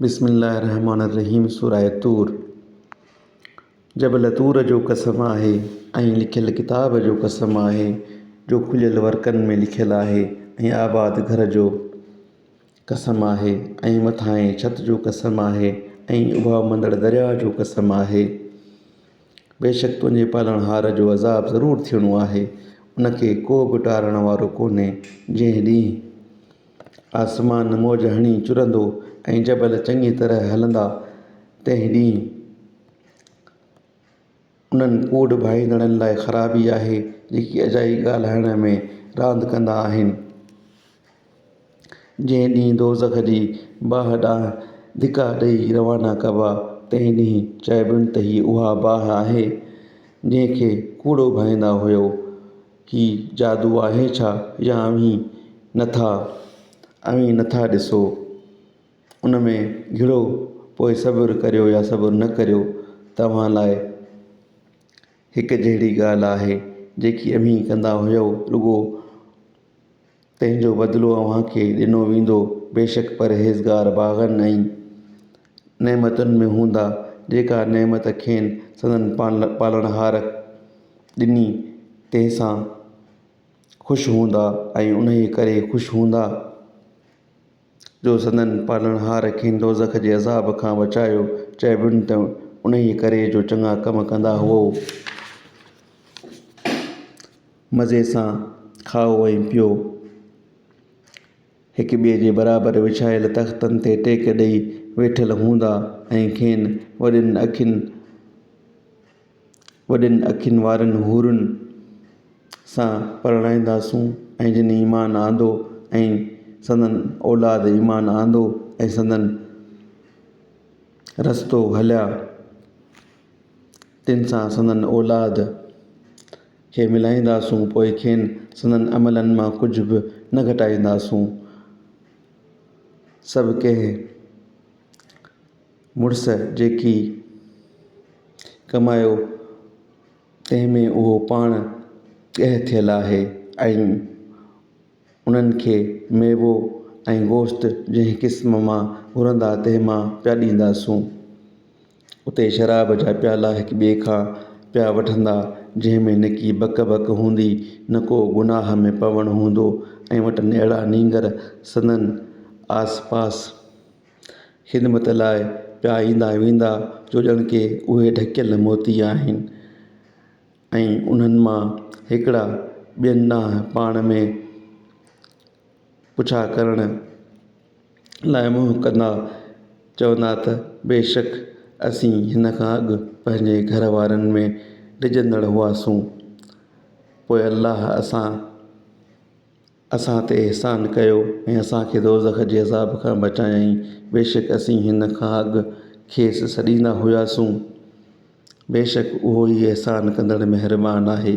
بسم الله الرحمٰن الرحيم سوره طور جبل طور جو قسم آهي ۽ لکيل ڪتاب جو قسم آهي جو کليل ورقن ۾ لکيل آهي ۽ آباد گهر جو قسم آهي ۽ مٿانهين ڇت جو قسم آهي ۽ اڀاوندڙ درياهه جو قسم آهي بيشڪ تنهنجي پالڻهار جو عذاب ضرور ٿيڻو آهي ان کي ڪو به ٽارڻ وارو ڪونهي جنهن ڏينهن آسمان موج هڻي چرندو ۽ جبل چڱي طرح هلندا، تنهن ڏينهن انهن ڪوڏ ڀائيندڙن لاء خرابي آهي، جيڪي اجائي ڳالهائڻ ۾ راند ڪندا آهن. جنهن ڏينهن دوزخ جي باهه ڏانهن ڌڪا ڏيئي روانا ڪبا، تنهن ڏينهن چئبن ته هي اها باهه آهي، جنهن کي ڪوڏو ڀائيندا هيؤ. هي جادو آهي ڇا يا اوهين نٿا اوهين نٿا ڏسو ان ۾ گهڙو پوء صبر ڪريو يا صبر نه ڪريو توهان لاء هڪ جهڙي ڳالهه آهي جيڪي اوهين ڪندا هيئو رڳو تنهن جو بدلو اوهان کي ڏنو ويندو. بيشڪ پرهيزگار باغن ۽ نعمتن ۾ هوندا، جيڪا نعمت کين سندن پالڻهار ڏني، تنهن سان خوش هوندا ۽ انهيء ڪري خوش هوندا. جو سندن پالڻهار کين دوزخ جي عذاب کان بچايو، چئبن ته انهيء ڪري جو چڱا ڪم ڪندا هئو. مزي سان کائو ۽ پيئو. هڪ ٻئي جي برابر وڇايل تختن تي ٽيڪ ڏيئي ويٺل هوندا ۽ کين وڏين اکين وڏين اکين وارين حورن سان پرڻائينداسون ۽ جن ايمان آندو ۽ سندن اولاد ايمان آندو ۽ سندن رستو هليا تن سان سندن اولاد کي ملائينداسون پوء کين سندن عملن مان ڪجهه به نه گهٽائينداسون سڀ ڪنهن مڙس جيڪي ڪمايو تنهن ۾ اهو پاڻ ڳهه ٿيل آهي ۽ انهن کي ميوو ۽ گوشت جنهن قسم مان گهرندا تنهن مان پيا ڏينداسون. اتي شراب جا پيالا هڪ ٻئي کان پيا وٺندا جنهن ۾ نڪي بڪ بڪ هوندي نه ڪو گناهه ۾ پوڻ هوندو ۽ وٽن اهڙا نينگر سندن آس پاس خدمت لاء پيا ايندا ويندا جو ڄڻ ڪي اهي ڍڪيل موتي آهن ۽ انهن مان هڪڙا ٻين ڏانهن پاڻ ۾ پڇا ڪرڻ لاء منهن ڪندا چوندا ته بيشڪ اسين هن کان اڳ پنهنجي گهر وارن ۾ ڊڄندڙ هئاسون پوء الله اسان اسان تي احسان ڪيو ۽ اسان کي دوزخ جي عذاب کان بچايائين، بيشڪ اسين هن کان اڳ کيس سڏيندا هياسون، بيشڪ اهو ئي احسان ڪندڙ مهربان آهي.